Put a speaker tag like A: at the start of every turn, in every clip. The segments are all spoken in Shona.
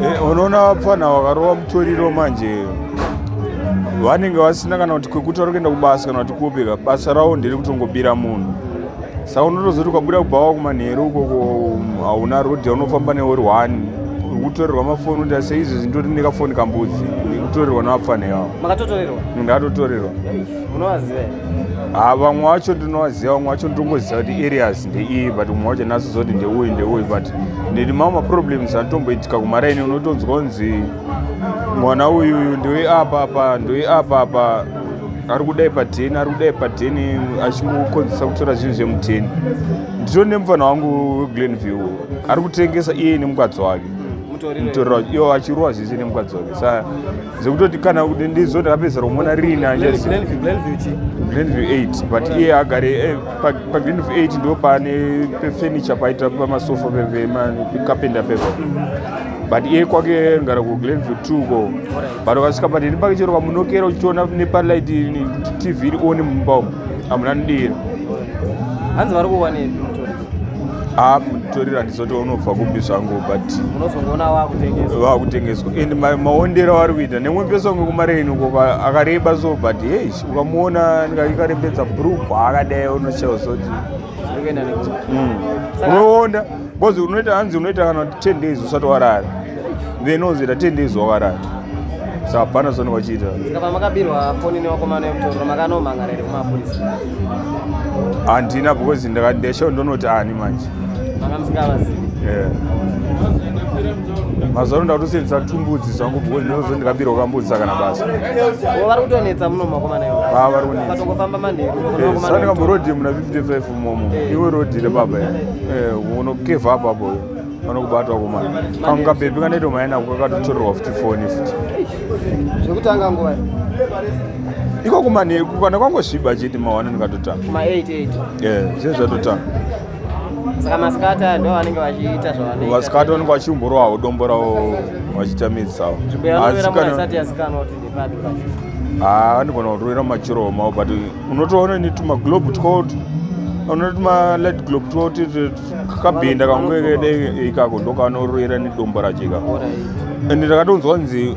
A: Eh, unoona vapfana vakarova mutoriro manje vanenge vasina kana kuti kwekuti vari kuenda kubasa kana kuti kupi ka basa ravo ndiri kutongobira munhu saka unotozoti ukabuda kubhawa kumanheru ukoko um, hauna rodhi yaunofamba neuri one uri kutorerwa mafoni kuti ase izvi zvinditori nekafoni kambudzi kutorerwa nevapfana ivavo makatotorerwa
B: ndatotorerwa unovaziva ha vamwe vacho
A: ndinovaziva vamwe vacho ndongoziva kuti areas ndeiyi but umwe wacho naso zoti ndeuyu ndeuyu but ndiri mamwe maproblems anotomboitika kumaraini unotonzwa unzi mwana uyuyu ndoi apa apa ndoi apa apa ari kudai pateni ari kudai pateni achingokonzesa kutora zvinhu zvemuteni nditoni nemufana wangu weglen view ari kutengesa iye nemukadzi wake mutoriro wacho iyo achirowa zvese nemukadzi wake sa zvekutoti kana kuti ndizoti apedzera kumona riina glenview 8 but iye agare eh, pagreen of 8 ndo pane pefurniture paita pamasofa pekapenda pepa but iye kwake ngara kuglenview t ko but ukasvika padini pake chero pamunokera uchiona nepalight tv iri one mumba umu hamuna ndira hanzi
B: vari kuwanepi haa ah, mutoriro
A: handizoti unobva kupi zvangu but unozongoona
B: waakutengeswa
A: and maondero avari kuita nemwe pesonge kumareni uko akareba so but hei ukamuona ikarembedza brugwa akadai unochaiwa zoti hmm. unoonda bcause unoita hanzi unoita kana kuti ten days usati warara then unozoita ten days wakarara so hapana zvaunenge uchiita pamakabirwa
B: foni newakomana yemutoro makanomhan'ara here kumapurisa
A: handina because ndakadesho ndonoti ani manje makamusingavazivi mazuva ano ndakutosenzesa tumbudzi zvangu because ndinozo ndikabirwa kambudzi sakana basa vari kutonetsa
B: muno makomana iwo ah, vari kunetsatongofamba
A: manherusaka
B: eh, ndikamborodhi
A: muna 55 momo eh. iwe rodhi repapa eh, unokevha apapo vanokubata wakomana kamwe kabebi kanoita maenako kakatotorerwa futi foni futi zvekutanga
B: nguva
A: ikoko manheku kana kwangosviba chete mawana ndikatotanga
B: zve
A: zvatotanga
B: saka maskata ndo vanenge vachiita zvavanoita vaskata vanenge vachiumborowawo
A: dombo ravo vachiita midzi savo haa
B: andigona
A: kurovera machiro omao but unotoona ni tumaglobe twot unoona tumalight globe twot kakabhinda kamwe kede ikako ndokanorovera nedombo racho ikako and ndakatonzwa nzi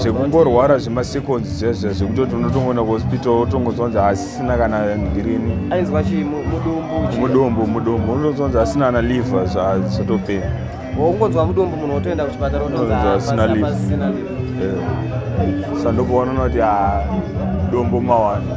B: zvekungorwara
A: zvemaseconds zvezve zvekutoti unotongoenda kuhospital otongozonzi asisina kana ngirini ainzwa chii
B: mudumbu mudumbu mudumbu unotozonzi
A: asina ana liver zvazotopera ungonzwa
B: mudumbu munhu otoenda kuchipatara otonzi asina
A: liver sandokuonana kuti ah, dombo mawani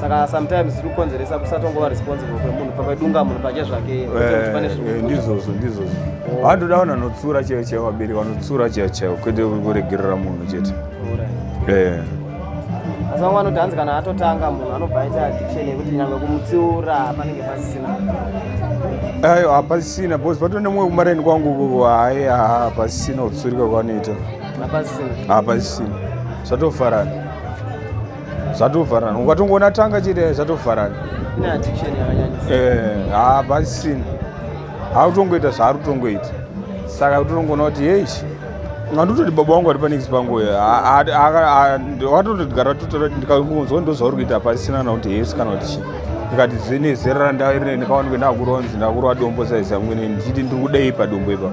A: saka
B: sometimes tiri kukonzeresa kusatongova responsible kwemunhu pakadunga munhu pache zvake eh, eh, ndizvozvo
A: ndizvozvo vandoda oh. vanhu vanotsura chaivo chaivo vabereki vanotsura chaivo chaivo kwete kuregerera munhu chete eh.
B: asi vamwe vanoti hanzi kana atotanga munhu anobva aita addiction yekuti nyangwe kumutsiura panenge pasisina
A: ayo hapasisina bcause patoo nemumwe kumareni kwangu hayi hapasisina kutsurika kwanoita hapasisina zvatofarana zvatovharana ukatongoona tanga chete zvatovharana eh, haa pasisina hautongoita zvaari kutongoita saka utonongoona kuti heish anditoti baba wangu ari panext panguyo watotodigara totora ndikakunzwa ndozvauri kuita pasisina na kuti hesi kana kuti chii ndikati zvinezera randava iri nekaona kuti ndakuronzi ndakurwa dombo saizi amwene ndichiti ndiri kudei padombo ipapo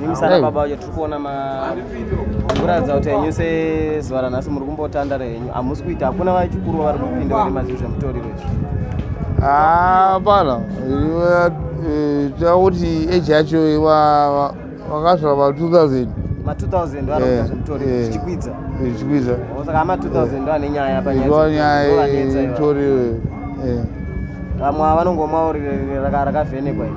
B: Nimi sana baba wacho tiri kuona ma kuratidza kuti henyu sezuva ranhasi muri kumbotandara henyu hamusi kuita hakuna vachikuru vari kupinda vari mazii zvemutoriro izvi hapana
C: takuti eji yacho vakasvika pa 2000 ma 2000 vanoita zvemutoriro
B: zvichikwidza zvichikwidza
C: saka ma 2000
B: ndo ane nyaya panyayaitoriro vamwe vanongomwa rakavhenekwa iri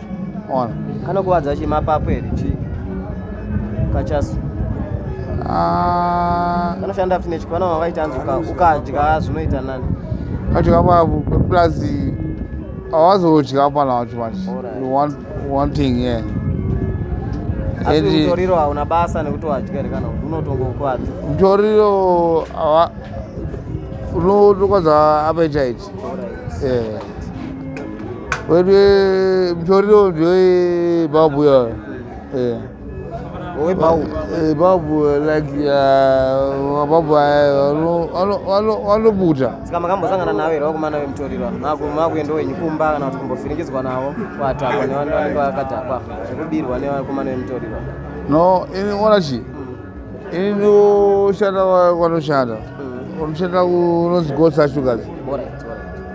C: ona kanokuvadza chi
B: mapapu here chi kachasu ah. kanoshanda futi nechiko vana vavaita anzi ukadya zvinoita nani ukadya papu
C: plus awazodya pana wacho manje one thing yeah
B: asi mutoriro hauna basa nekuti wadya here kana unotongokwadza mutoriro
C: unotokwadza apechaiti Eh. Wewe mtoriro ndio babu ya. Eh. Wewe babu. Eh, babu like ya babu ano ano ano ano buta. Sika makambo sangana nawe
B: ro kumana we mtoriro. Maku maku ndo wenyu kumba kana kuti kumbofirikidzwa nawo kwata kwa ne vanhu vanenge vakadhakwa. Zvekubirwa ne kumana we mtoriro. No, ini
C: ona chi. inoshanda kwanoshanda mm. unoshanda kunonzi gosa sugars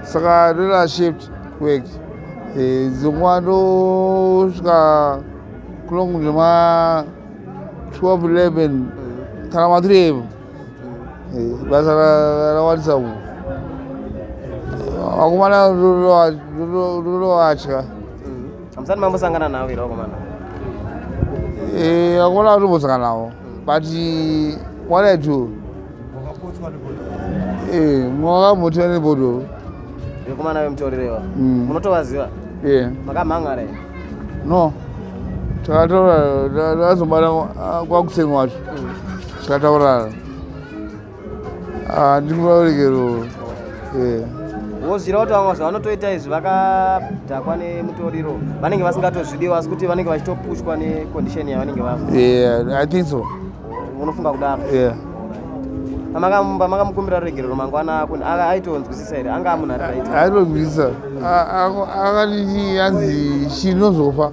C: saka rera shift work eh, dzingwa ndosvika kulongu zvema 12 11 mm. kana ma 3 evo eh, basa rawanisa uku vakomana rinovatya Hamusati
B: mambosangana navo here vakomana? Eh,
C: vakomana vari kumbosangana navo but what I do eh, mwakamuti vane bodo vekomana
B: vemutorirewa mm. munotovaziva eh. makamhanga re no
C: takataura tazobata ah, kwakutsengwa wacho mm. takataurana Ah, ndiri muraurikero
B: wozvira kuti vamwe vazvo vanotoita izvi vakadhakwa nemutoriro vanenge vasingatozvidiwa asi kuti vanenge vachitopushwa necondition yavanenge vaiso
C: unofunga
B: kudaro pamakamukumbira ruregerero mangwana ako aitonzwisisa here anga amunhu ari aitonzwisisa
C: akati anzi chinozofa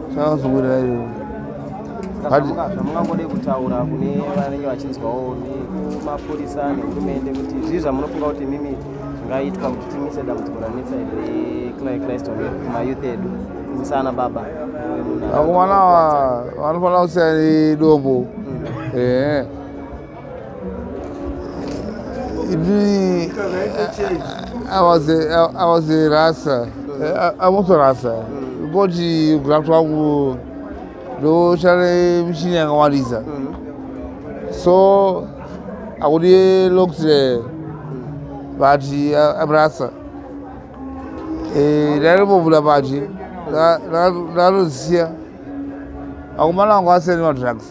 C: Chakazungurira iyo.
B: Zvamungangodei kutaura kune vanenge vachinzwawo nemapurisa nehurumende kuti zvii zvamunofunga kuti mimi zvingaitwa kuti timise dambudziko ranetsa reChrist kumayouth edu kunyisa ana baba akomana
C: vanofanira kusiya nedombo mm. ehe Really, I, I was a, I, I was a rasa. I, I was a rasa. Because you grabbed one ndoshare mishini yakawandisa so akuti looked there but I'm rasa ndaimbovula pachi ndakatozisiya akumana angu asiyani madrugs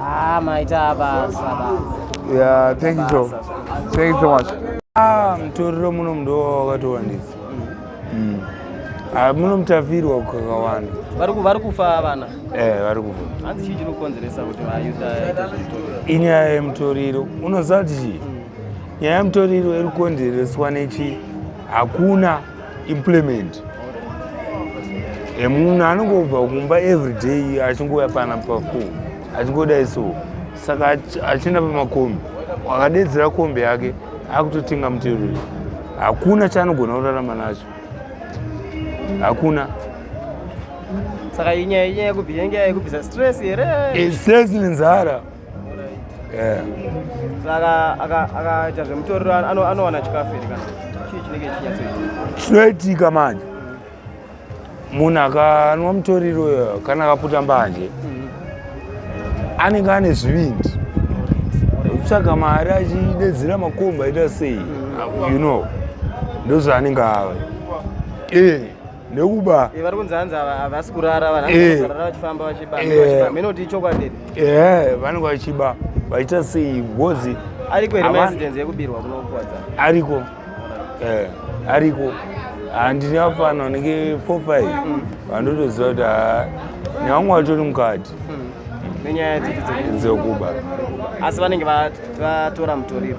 C: Ah, maita
B: basa basa. Yeah,
C: thank you so. Thank you so much. Ah, mtoriro
A: muno mdo wakatowandisa. Mm. Ah, muno mtafirwa kukakawanda. Vari ku vari kufa
B: vana. Eh, vari kufa.
A: Hanzi chii chinokonzeresa
B: kuti vayuta ita zvitoriro? Inyaya yemtoriro.
A: Unoziva kuti chii? Nyaya yemtoriro iri kukonzereswa nechi hakuna implement e munhu anongobva kumba everyday achingouya pana pafo achingodai so saka achienda pamakombi akadedzera kombi yake akutotenga mutero hakuna chaanogona kurarama nacho hakuna
B: saka inyaya inyaya yekubvisa inyaya yekubvisa stress here eh, stress
A: nenzara eh.
B: saka akaita zvemutoriro anowana chikafu here kana chii chinenge chinyatsoitika chinoitika manje
A: munhu akanwa mutoriro eh, kana akaputa mbanje mm. anenge ane zvivindi kutsvaga mari achidedzera makomba aita sei mm. you know ndozvaanenge ava eh. nekuba eh, vari kunzi hanzi
B: havasi kurara vanhu eh. vachifamba vachiba eh. mene kuti ichokwadi ehe vanenge
A: vachiba vaita sei ngozi ariko here maincidence
B: yekubirwa kunokuwadza ariko
A: ariko handini afana anenge four five mm. vandotoziva kuti ah, nevamwe vatori mukati mm. nenyaya
B: dzekuba
A: asi
B: vanenge vatora mutoriro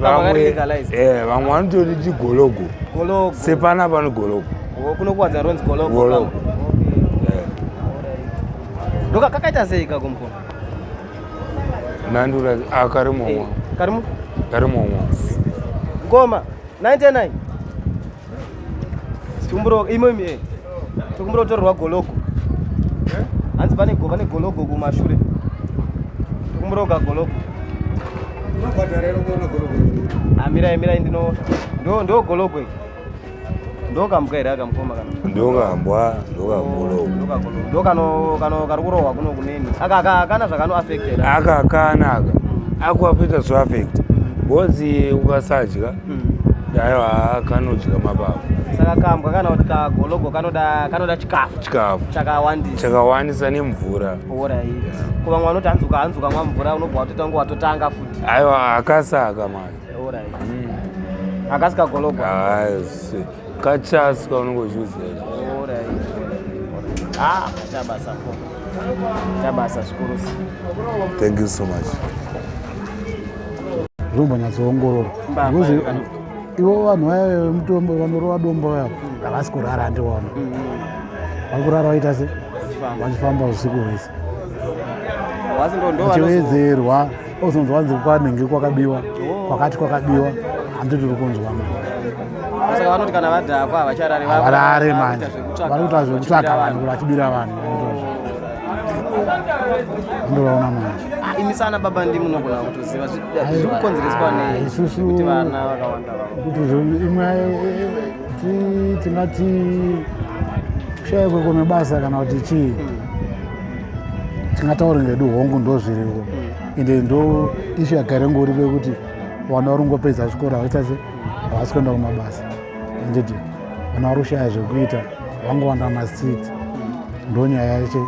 A: vamwe eh, vanototi chigologo sepana pano gologo kunokuwadza ronzi
B: gologo ndoka eh. kakaita sei kakumpo
A: nandura ah, kari momwa eh, kari momwa
B: ngoma 99 tikumbiro imo imi eh. tikumbiro torerwa gologo eh? hanzi pane go pane gologo kumashure tikumbiro ka gologo amirai ah, mirai ndino ndo ndo gologo iri ndokambwa here akamukoma kana ndokambwa
A: ndokagologo ndo kano
B: kano kari kurohwa kuno kuneni aka aka akana zvakano affected aka akana aka
A: akuafita zvoaffect mm. because ukasadya aiwa kanodya mapapu saka kambwa kana
B: kuti kagologo kanoda kanoda chikafu chikafu chakawandisa
A: chakawandisa nemvura orit ko
B: vamwe vanoti hanzi ukahanzi ukamwa mvura unobva watotanga watotanga futi aiwa akasaka
A: mani orit mm.
B: akasi kagologo asi kachasi
A: kaunenge uchiuzera orit ah chabasa
B: ko chabasa zvikuru thank
A: you so much
D: zvombonyatsoongororwa ivo vanhu vaya vemutombo vanorova dombo vaya havasi kurara handiona vari kurara vaita se vachifamba usiku hwese vachivedzerwa ozonzwa vanzi kwanenge kwakabiwa oh. kwakati kwakabiwa handi tiri kunzwa
B: maivarare
D: manje vari kuita zvekutsvaka vanhu vachibira vanhu ndovaona manje ah, imi sana baba ndi
B: munogona kutoziva zviri kukonzereswa nei kuti vana vakawanda kuti imwe
D: tingati kushaya kwekwe mebasa kana kuti chii hmm. tingataure ngedu hongu ndo zviriko hmm. ende ndo ishu yagare ngori vekuti vana vari kungopedza chikoro havasi kuenda kumabasa handiti vana vari kushaya zvekuita vangowanda mumastreet ndo nyaya yacho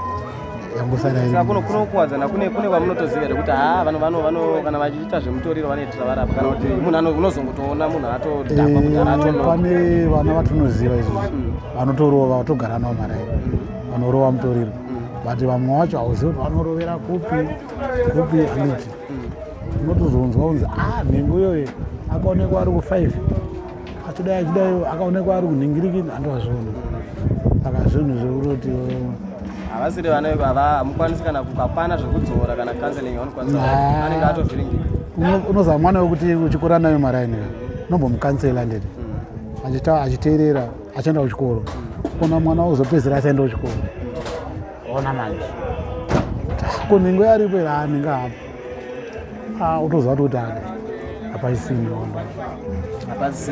D: yangosakunokuwadzana kune
B: kune vamunotoziva here kuti haa vanhu vano vano kana vachiita zvemutoriro vanoitira varapa kana kuti munhu unozongotoona munhu atodhakwa kuti aratopane eh, vana
D: vatonoziva izvi mm. vanotorova vatogara navo mari mm. vanorova mutoriro mm. but vamwe vacho hauzivi kuti vanorovera kupi kupi handiti unotozonzwa kunzi ah nhengo iyoyo akaonekwa ari kufive achidai achidai akaonekwa ari kunhingirikini andovazvona saka zvinhu zvekuroti havasiri
B: vane hamukwanisi kana kukapana zvekudzora kana counseling anenge atovhiringika unozama mwana
D: wekuti uchikura nayo maraini unombomukansela nditi achiteerera achaenda kuchikoro ona mwana uzopedzera achaenda kuchikoro ona manje ko nhengo yaripo ira anenge apo ah, utoziva kuti kuti ade hapaisina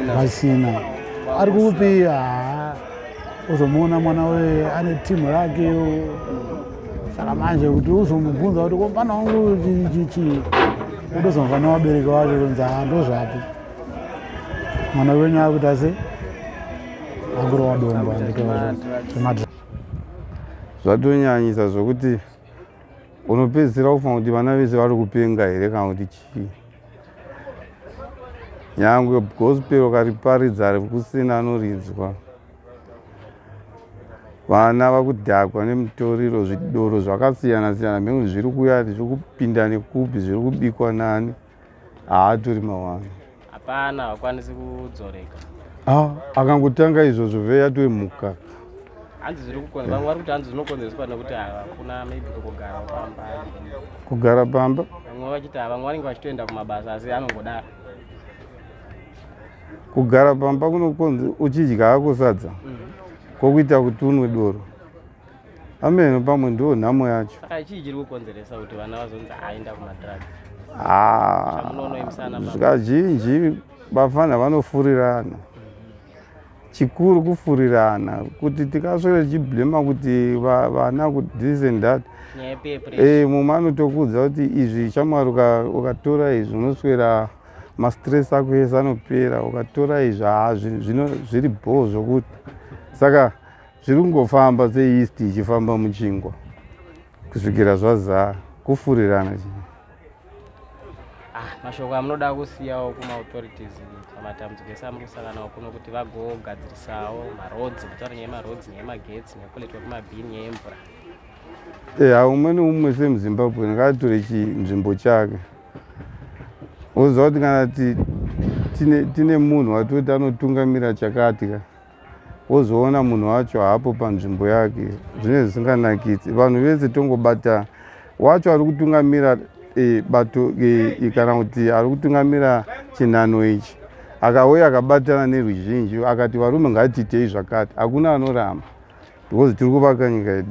D: hapaisina ari kupi ah, uzomuona mwana we ane timu rake saka manje kuti uzomubvunza kuti komana wangu chichii utozomva nevabereki vacho kunzi haa ndozvapi mwana wenyu akuita se akurowa dombo anditoa
E: zvatonyanyisa zvokuti unopedzisira kufunga kuti vana vese vari kupenga here kana kuti chii nyangwe gospel ukariparidza kusina anorinzwa vana vakudhakwa nemutoriro zvidoro zvakasiyana siyana mhekuti zviri kuya zviri kupinda nekupi zviri kubikwa nani haatori mawani hapana
B: hakwanisi kudzoreka ah,
E: akangotanga izvozvo veya toe mukaka hanzi
B: zviri kukonza vamwe vari kuti hanzi zvinokonzereswa nekuti hakuna maybe kugara pamba kugara
E: pamba vamwe vachiti vamwe
B: vanenge vachitoenda kumabasa asi anongodaro
E: kugara pamba kunokonzi uchidya hako sadza mm. kwokuita kuti unwe doro ameno pamwe ndiwo nhamo yacho saka chii chiri kukonzeresa
B: kuti vana vazonzi aenda kumadrug
E: zvakazhinji vafana vanofurirana chikuru kufurirana kuti tikaswere tichiblema kuti vana kuti this and that e, mumwe anotokudza kuti izvi chamwari ukatora izvi unoswera mastress ako ese anopera ukatora izvi haa zviri bhoo zvokuti saka zviri kungofamba seeast ichifamba muchingwa kusvikira zvazaa kufurirana chii ah,
B: mashoko amunoda kusiyawo kumaauthorities pamatambudziko ese amuri kusanganawo kuno kuti vagogadzirisawo maroads kutaura nyaya yemaroads nyaya yemagetsi nyaya kuletwa kwemabhini nyaya yemvura eya eh, umwe neumwe
E: semuzimbabwe ngaatore chinzvimbo chake woziva kuti kana tine munhu watoti anotungamira chakati ka wozoona munhu wacho haapo panzvimbo yake zvinenge zvisinganakidzi vanhu vese tongobata wacho ari kutungamira e, bato e, e, kana kuti ari kutungamira chinhano ichi akauya akabatana neruzhinji akati varume ngatiitei zvakati hakuna anoramba because tiri kuvaka nyika yedu